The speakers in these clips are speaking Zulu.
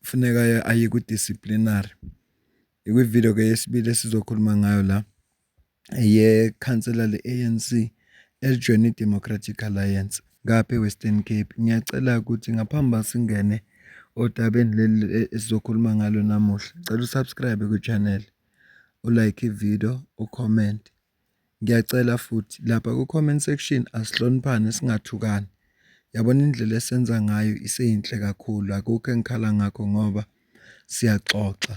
kufuneka aye ku-disciplinary ikwividiyo ke yesibili esizokhuluma ngayo la yekhansela le-anc elijoyina i-democratic alliance ngapha e-western cape ngiyacela ukuthi ngaphambi uba singene odabeni leli e-, esizokhuluma ngalo namuhla cela usubscribe kwi-channel ulike ividiyo ucomment Ngiyacela futhi lapha ku-comment section asihloniphane singathukani. Yabona indlela esenza ngayo iseyinhle kakhulu, akukho engikhala ngakho ngoba siyaxoxa.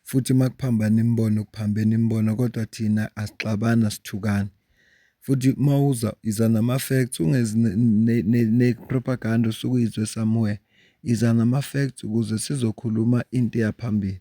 Futhi uma kuphambana imibono kuphambene imibono kodwa thina asixabani asithukani. Futhi uma uza iza nama-facts ungezi ne-propaganda osuke uyizwe somewhere. Iza nama-facts ukuze sizokhuluma into eya phambili.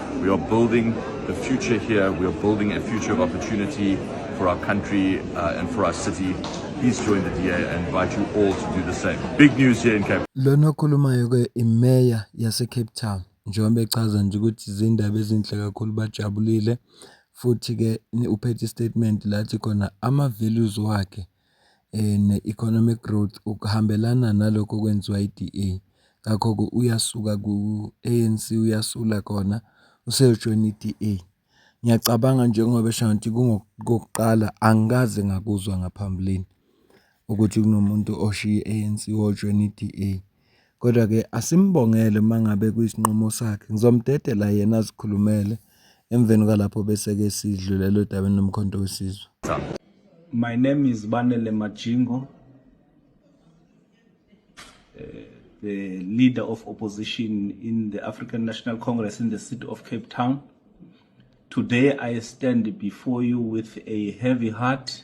We are building the future here. We are building a future of opportunity for our country uh, and for our city. Please join the DA and invite you all to do the same. Big news here in Cape Lona okhulumayo ke imeya yase Cape Town njengoba echaza nje ukuthi izindaba ezinhle kakhulu bajabulile futhi ke uphethe istatement lathi khona ama values wakhe ne-economic growth ukuhambelana nalokho okwenziwa i-DA, ngakho-ke uyasuka ku-A_N_C uyasula khona useyojoyina i-D_A. Ngiyacabanga njengoba esho ngathi kokuqala angikaze ngakuzwa ngaphambilini ukuthi kunomuntu oshiye i-A_N_C wajoyina i-D_A. Kodwa-ke asimbongele uma ngabe kuyisinqumo sakhe. Ngizomdedela yena azikhulumele emveni kwalapho bese-ke sidlulela odabeni lomkhonto wesizwe. My name is Banele Majingo, uh, eh, the leader of opposition in the African National Congress in the city of Cape Town. Today I stand before you with a heavy heart.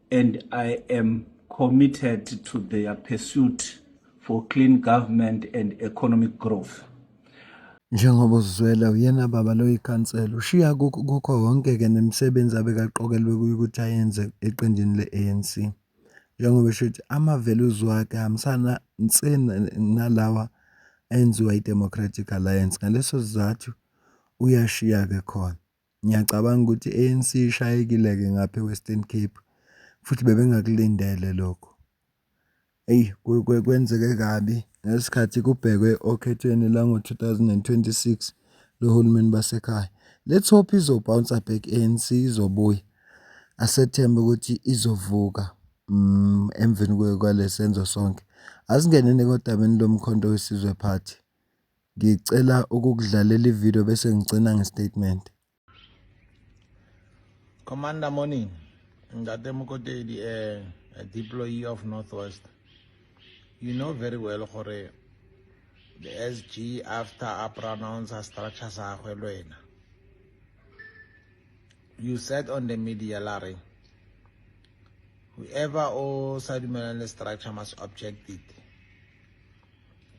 and I am committed to their pursuit for clean government and economic growth. Njengoba uzwela uyena baba lo ikhansela ushiya kukho konke ke nemisebenzi abekaqokelwe kuyo ukuthi ayenze eqenjini le-ANC. Njengoba esho ukuthi ama-values wakhe ahambisana nse nalawa enziwa i-Democratic Alliance ngaleso sizathu uyashiya ke khona. Ngiyacabanga ukuthi i-A_N_C ishayekile-ke ngapha e-Western Cape, futhi bebengakulindele lokho. Eyi kwenzeke kabi ngesikhathi kubhekwe okhethweni lwango-two thousand and twenty-six lohulumeni basekhaya. Let's hope izo-bouncer back i-A_N_C izobuya, asethembe ukuthi izovuka emveni kwalesenzo sonke. Asingeneni-ke odabeni loMkhonto weSizwe Party. Ngicela ukukudlalela ivideo bese ngigcina ngestatement. Commander morning. Ngate Mokotedi a, eh, a deployee of Northwest. You know very well gore the SG after a pronounce a structure sa gwe lwena. You said on the media lare whoever o sa dumelang le structure must object it.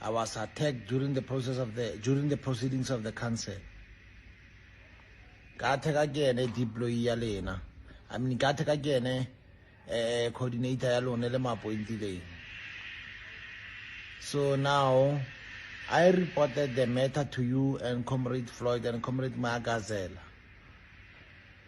I was attacked during the process of the during the proceedings of the council. Kathe ka kene deploy ya lena. I mean kathe ka kene eh coordinator ya lona le mapointileng. So now I reported the matter to you and Comrade Floyd and Comrade Magazela.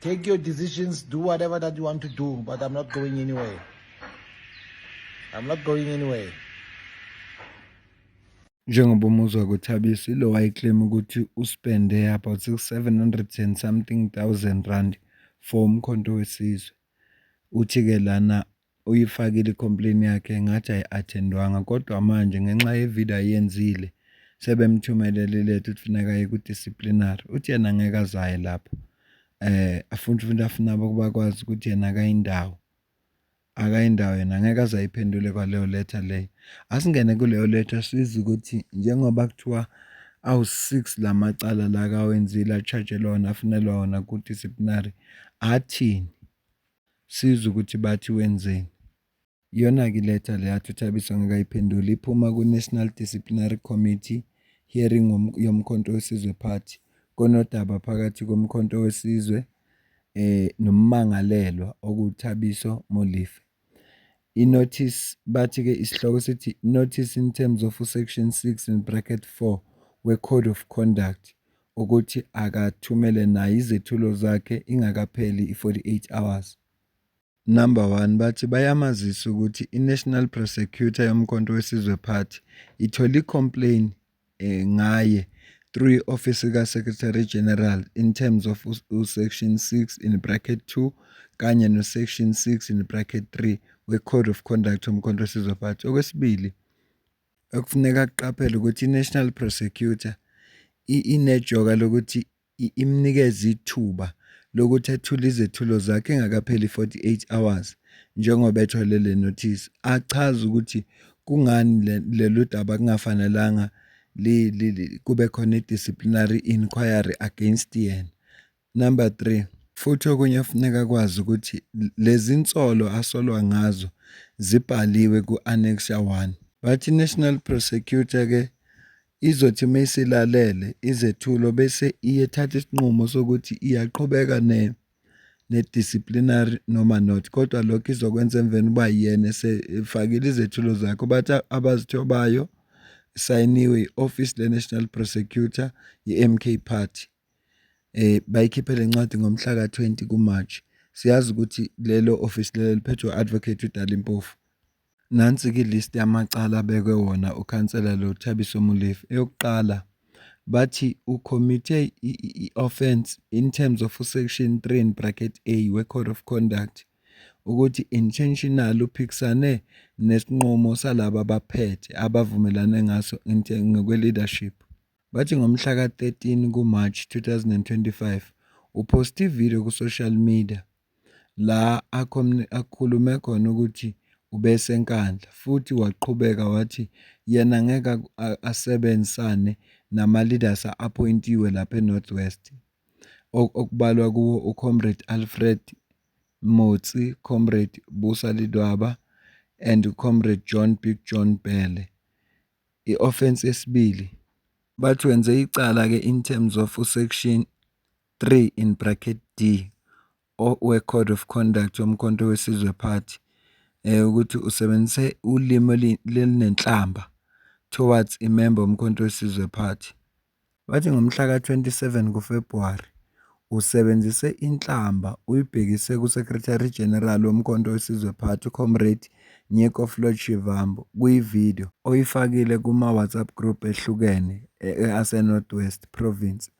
Take your decisions, do whatever that you want to do, but I'm not going anywhere. I'm not going anywhere. Njengoba umuzwa kuthabisa ilo wayeclaim ukuthi uspende about 700 and something thousand rand for umkhonto wesizwe. Uthi-ke lana uyifakile i-complain yakhe ngathi ayi-attendwanga kodwa manje ngenxa yevideo ayenzile sebemthumelele iletha ukuthi funeka aye ku-disciplinary uthi yena ngeke azaye lapho eh afunde umuntu afuna bakwazi ukuthi yena akayindawo akayindawo yena ngeke azayiphendule kwaleyo letter leyo asingene kuleyo letter siza ukuthi njengoba kuthiwa awu-6 la macala la kawenzile achajelwa wona afunelwa wona ku-disciplinary athini sizwe ukuthi bathi wenzeni. Iyona-ke iletha le yathi uThabiso ngekayiphenduli iphuma ku-National Disciplinary Committee hearing yoMkhonto weSizwe Party konodaba phakathi koMkhonto weSizwe eh nommangalelwa okuThabiso Molife. I-notice bathi-ke isihloko sithi notice in terms of section 6 in bracket 4 we-code of conduct ukuthi akathumele naye izethulo zakhe ingakapheli i-48 hours. Number one, bathi bayamazisa ukuthi i-National Prosecutor yoMkhonto weSizwe Party ithole i-complain eh, ngaye through i-office ka-Secretary General in terms of u-section 6 in bracket 2 kanye no-section 6 in bracket 3 we-Code of Conduct yoMkhonto weSizwe Party. Okwesibili, okufuneka akuqaphele ukuthi i-National Prosecutor inejoka lokuthi imnikeze ithuba lokuthi athule izethulo zakhe engakapheli 48 hours njengoba ethole le notice achaze ukuthi kungani lolu daba kungafanelanga kube khona i-disciplinary inquiry against yena Number 3, futhi okunye kufuneka akwazi ukuthi lezi nsolo asolwa ngazo zibhaliwe ku-Annexure 1. Bathi National Prosecutor ke izothi uma isilalele izethulo bese iyethatha isinqumo sokuthi iyaqhubeka ne ne-disciplinary noma not kodwa lokho izokwenza emveni uba yena esefakile izethulo zakhe bathi abazithobayo sayiniwe i-office le-national prosecutor ye-mk party bayikhiphe le ncwadi ngomhlaka 20 kuMarch. Siyazi ukuthi lelo ofisi lelo liphethwe u-Advocate uDali Mpofu. Nansi-ke ilist yamacala abekwe wona ukhansela lo Thabiso Molefe. Eyokuqala bathi ucommitte i-offense in terms of section 3 in bracket A we-code of conduct ukuthi intentional uphikisane nesinqumo salaba abaphethe abavumelane ngaso ngokwe-leadership. Bathi ngomhla ka-13 kuMarch 2025 uphoste ividiyo ku-social media la akhulume khona ukuthi ubeseNkandla futhi waqhubeka wathi yena ngeke asebenzisane nama-leaders a-appointiwe lapha eNorth West okubalwa kuwo uComrade Alfred Motsi, Comrade Busa Lidwaba and Comrade John Big John Bhele. i-offence yesibili bathi wenze icala ke in terms of uSection 3 in bracket d weCode of Conduct yoMkhonto weSizwe Party ukuthi usebenzise ulimi olunenhlamba towards a member woMkhonto weSizwe Party. Bathi ngomhla ka-27 kuFebhuwari usebenzise inhlamba uyibhekise kuSecretary General woMkhonto weSizwe Party uComrade Nyeko Floyd Shivambu kwi-video oyifakile kuma-WhatsApp group ehlukene ase-North West Province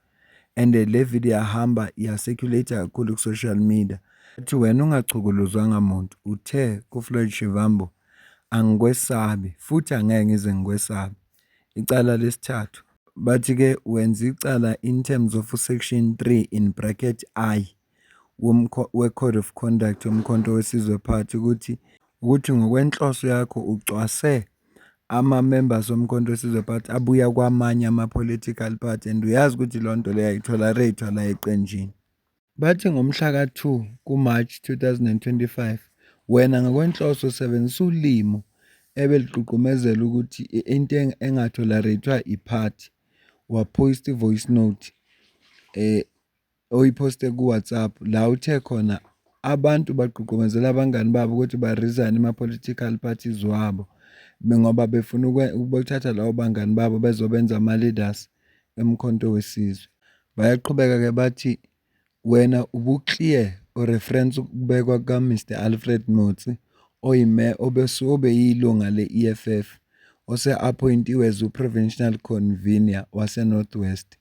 and le video yahamba ya-circulate-a kakhulu ku-social media. Uthi wena ungachukuluzwanga muntu, uthe kuFloyd Shivambu, Angikwesabi futhi angeke ngize ngikwesabe. Icala lesithathu, bathi ke wenza icala in terms of u-section 3 in bracket I weCode of Conduct yoMkhonto weSizwe Part ukuthi ukuthi ngokwenhloso yakho ucwase ama-members oMkhonto weSizwe Part abuya kwamanye ama-political party and uyazi ukuthi lonto leyo ayitholareythwa la eqenjini. Bathi ngomhla ka-2 kuMarch 2025 wena ngokwenhloso usebenzisa ulimi ebelugqugqumezela ukuthi into engatholerayithwa yiphathi, waphosta i-voice note oyiphoste kuWhatsApp la uthe khona abantu bagqugqumezela abangani babo ukuthi barizayine ama-political parties wabo ngoba befuna ukuthatha labo bangani babo bezobenza ama-leaders. eMkhonto weSizwe. Bayaqhubeka ke bathi wena ubuclear ureference ukubekwa kuka Mister Alfred Motsi oyiMeya obeyilunga le-EFF ose appointiwe as uProvincial Convener waseNorth West.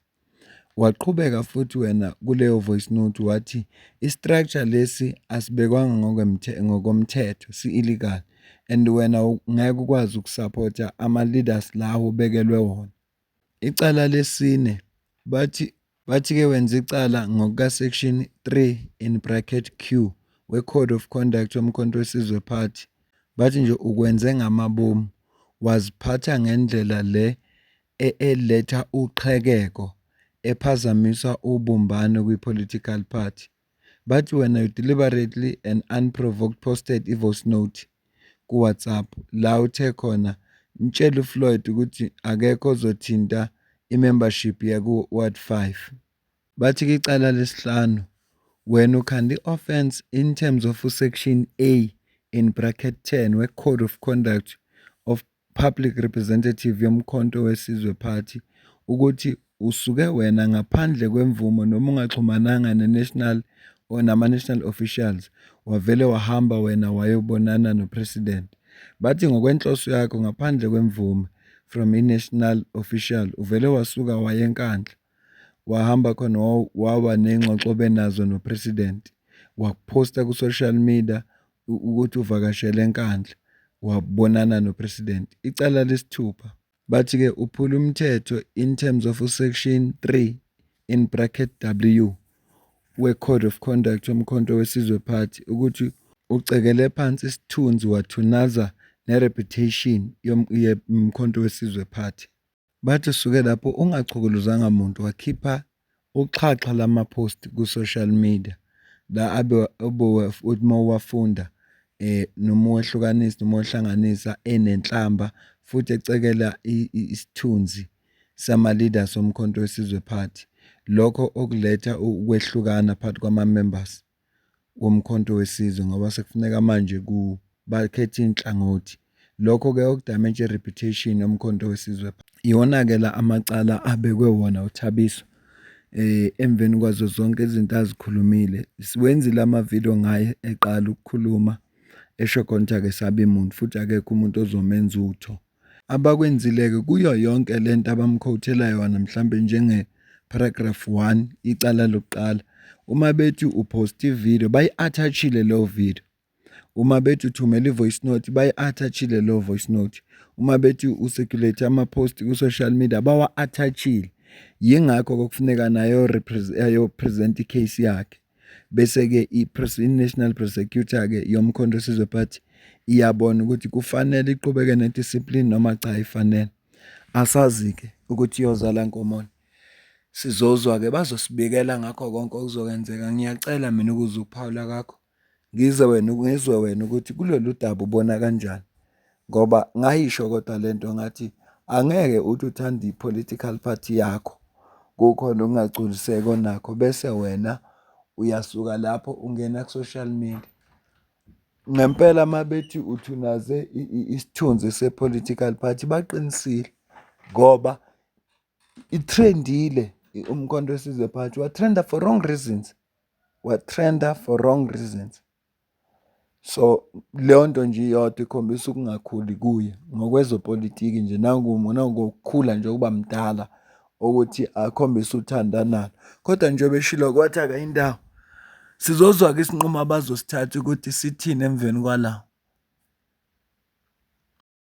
Waqhubeka futhi wena kuleyo voice note wathi istructure lesi asibekwanga ngokwemthe ngokomthetho si-illegal and wena ngeke ukwazi ukusupporta ama-leaders lawo obekelwe wona. Icala lesine, bathi bathi ke wenza icala ngokuka section 3 in bracket Q we Code of Conduct yoMkhonto weSizwe Party, bathi nje ukwenze ngamabomu, waziphatha ngendlela le eletha uqhekeko, ephazamisa ubumbano kwi political party. Bathi wena you deliberately and unprovoked posted i-voice note ku-WhatsApp la uthe khona mtshele uFloyd ukuthi akekho ozothinta i-membership yaku-Ward 5. Bathi kwicala lesihlanu wena ukhanda i-offence in terms of uSection A in bracket 10 we-Code of Conduct of Public Representative yoMkhonto weSizwe Party, ukuthi usuke wena ngaphandle kwemvumo noma ungaxhumananga ne-national or nama-national officials, wavele wahamba wena wayobonana no-president. Bathi ngokwenhloso yakho ngaphandle kwemvume from i-national official, uvele wasuka waya eNkandla, wahamba khona waba ney'ngxoxo obenazo no-president, wakuphosta ku-social media, ukuthi uvakashele eNkandla wabonana noPresident. Icala lesithupha. Bathi ke uphula umthetho in terms of uSection 3 in bracket W weCode of Conduct yoMkhonto weSizwe Party ukuthi ucekele phansi isithunzi wathunaza nereputation yoMkhonto weSizwe Party. Bathi suke lapho ungachukuluzanga muntu wakhipha uxhaxha lama-post ku-social media la abe uthi uma uwafunda eh noma uwehlukanisa noma uhlanganisa enenhlamba futhi ecekela isithunzi sama-leader somkhonto wesizwe party lokho okuletha ukwehlukana phakathi kwama-members. woMkhonto weSizwe ngoba sekufuneka manje ku bakhethe inhlangothi. Lokho-ke okudamage reputation yoMkhonto weSizwe. Iwona-ke la amacala abekwe wona uThabiso eh emveni kwazo zonke izinto azikhulumile siwenzile amavidiyo ngaye eqala ukukhuluma esho konke ake sabe muntu futhi akekho umuntu ozomenza utho. abakwenzile-ke kuyo yonke le nto abamkhothela yona mhlawumbe njenge-paragraph one, icala lokuqala. Uma bethi uphosta ividiyo bayi-athachile leyo vidiyo. Uma bethi uthumela i-voice note bayi-athachile leyo voice note. Uma bethi usekulate ama-post ku-social media bawa-athachile. Yingakho-ke kufuneka nayo ayopresenta i-case yakhe. Bese-ke i-National Prosecutor-ke yoMkhonto Sizwe Party iyabona ukuthi kufanele iqhubeke nediscipline noma cha ifanele. Asazi-ke ukuthi iyozala nkomoni. Sizozwa-ke bazosibikela ngakho konke okuzokwenzeka. Ngiyacela mina ukuza ukuphawula kakho, ngize wena ngizwe wena ukuthi kulolu daba ubona kanjani. Ngoba ngayisho kodwa le nto ngathi angeke uthi uthanda i-political party yakho, kukhona ukungagculiseki onakho bese wena uyasuka lapho ungena ku-social media. Ngempela uma bethi uthunaze isithunzi se-political party baqinisile ngoba i-trend-ile uMkhonto weSizwe Party, wa-trend-a for wrong reasons, wa-trend-a for wrong reasons. So, leyo nto nje iyodwa ikhombisa ukungakhuli kuye ngokwezopolitiki nje nangokukhula nje ukuba mdala ukuthi akhombise uthando analo. Kodwa njengoba eshilo wathi akayi ndawo, sizozwa-ke isinqumo abazosithatha ukuthi sithini emveni kwala.